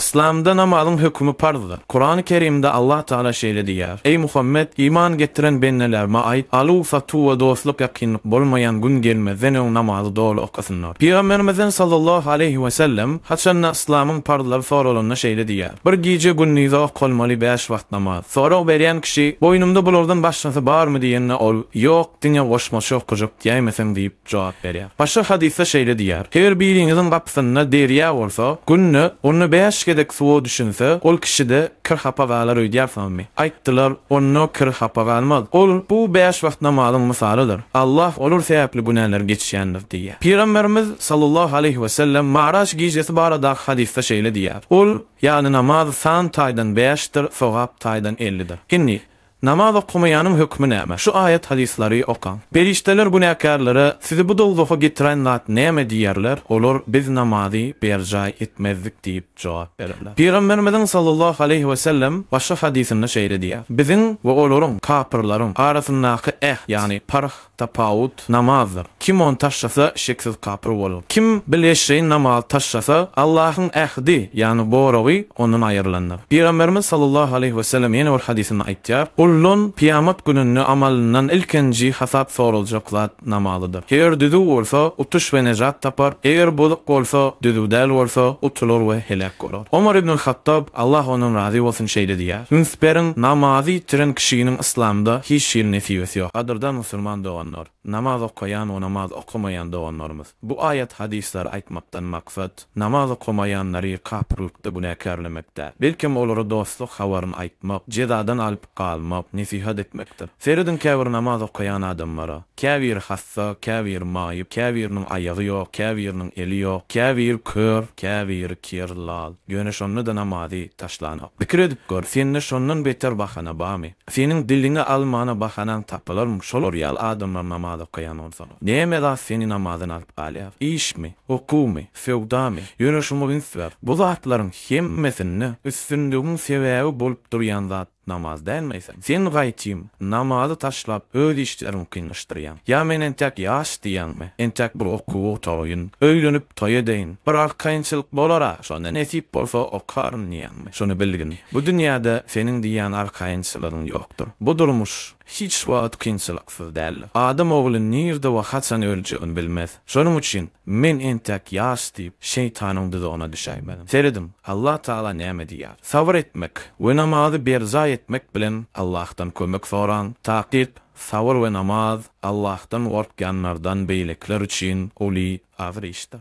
Yslamda namazyň hökümi parzdyr. Kurany Kerimde Allah Taala şeýle diýýär, Eý Muhammet, iman getiren bendelerime aýt, aluw, satuw we dostluk ýakynlyk bolmaýan gün gelmezden öň namazy doly okasynlar. Pygamberimizden sallallahu aleýhi we sellem haçanda yslamyň parzlary soralanda şeýle diýýär, Bir gije gündizi okalmaly bäş wagt namaz. Sorag berýän kişi, Boýnumda bulardan başgasy barmy diýende ol, Ýok, diňe goşmaça okajak diýäýmeseň diýip, jogap berýär. Başga hadysda şeýle diýýär, Her biriňiziň gapysynda derýa bolsa, günde onda bäş gezek suwa düşünse, ol kişi-de kir-hapa galar öýdýärsiňizmi? Aýtdylar, Onda kir-hapa galmaz. Ol, Bu bäş wagt namazyň mysalydyr. Allah olar sebäpli günäleri geçýändir diýýär. Pygamberimiz, sallallahu aleýhi we sellem, Maraç gijesi baradaky hadysda şeýle diýýär, Ol, ýagny namaz, san taýdan bäşdir, sogap taýdan ellidir. Indi, Namaz okamaýanyň hökmi näme? Şu aýat hadyslary okaň. Perişdeler günäkärlere, Sizi bu dowzaha getiren zat näme diýerler, olar, Biz namazy berjaý etmezdik diýip jogap bererler. Pygamberimiziň sallallahu aleýhi wesellem başga hadysynda şeýle diýýär, Biziň we olaryň, kapyrlaryň, arasyndaky äht, ýagny parh, Tapawut namazdyr. Kim ony taşlasa, şeksiz kapyr bolar. Kim bil eşreýin namazy taşlasa, Allahyň ähdi, ýagny goragy, ondan aýrylandyr. Pygamberimiz sallallahu aleýhi wesellem ýene bir hadysynda aýtýar, Guldan kyýamat gününde amalyndan ilkinji hasap soraljak zat namazydyr. Eger düzüw bolsa, utuş we nejat tapar, eger bozuk bolsa, düzüw däl bolsa, utular we heläk bolar. Omar ibnul Hattab, Allah ondan razy bolsun, şeýle diýýär, Üns beriň, namazy ýitiren kişiniň Yslamda hiç hili nesibesi ýok. Gadyrdan musulman doganlar, namaz okaýan we namaz okamaýan doganlarymyz! Bu aýat hadyslary aýtmakdan maksat, namaz okamaýanlary kapyrlykda günäkärlemek däl. Belkem olara dostluk habaryny aýtmak, jezadan alyp galmak, nesihat etmekdir. Serediň käbir namaz okaýan adamlara. Käbiri hassa, käbiri maýyp, käbiriniň aýagy ýok, käbiriniň eli ýok, käbiri kör, käbiri ker, lal. Ýöne şonda-da namazy taşlanok. Pikir edip gör, sende şondan beter bahana barmy? Seniň diliňe almana bahanaň tapylarmy, şolar ýaly adamlar namaz okaýan bolsalar? Näme zat seni namazdan alyp galýar? Işmi? Okuwmy? Söwdamy? Ýöne şuňa üns ber, bu zatlaryň hemmesinde üstünligiň sebäbi bolup durýan zat, Namaz dälmi eýsem? Sen gaýtym, namazy taşlap, öz işleriňi kynlaşdyrýaň. Ýa men entäk ýaş diýýäňmi? Entäk bir okuw otaýyn, öýlenip, toý edeýin. Bir arkaýynçylyk bolar-a, şonda nesip bolsa okaryn diýýäňmi? Şuny bilgin, bu dünýäde seniň diýýän arkaýynçylygyň ýokdur. Bu durmuş. hiç wagt kynçylyksyz däl. Adam ogly nirde we haçan öljegini bilmez. Şonuň üçin, Men entäk ýaş diýip, şeýtanyň duzagyna düşäýmeliň. Serediň, Allah Tagala näme diýýär. Sabyr etmek we namazy berjaý etmek bilen Allahdan kömek soraň. Takyk, sabyr we namaz Allahdan gorkýanlardan beýlekiler üçin uly agyr işdir.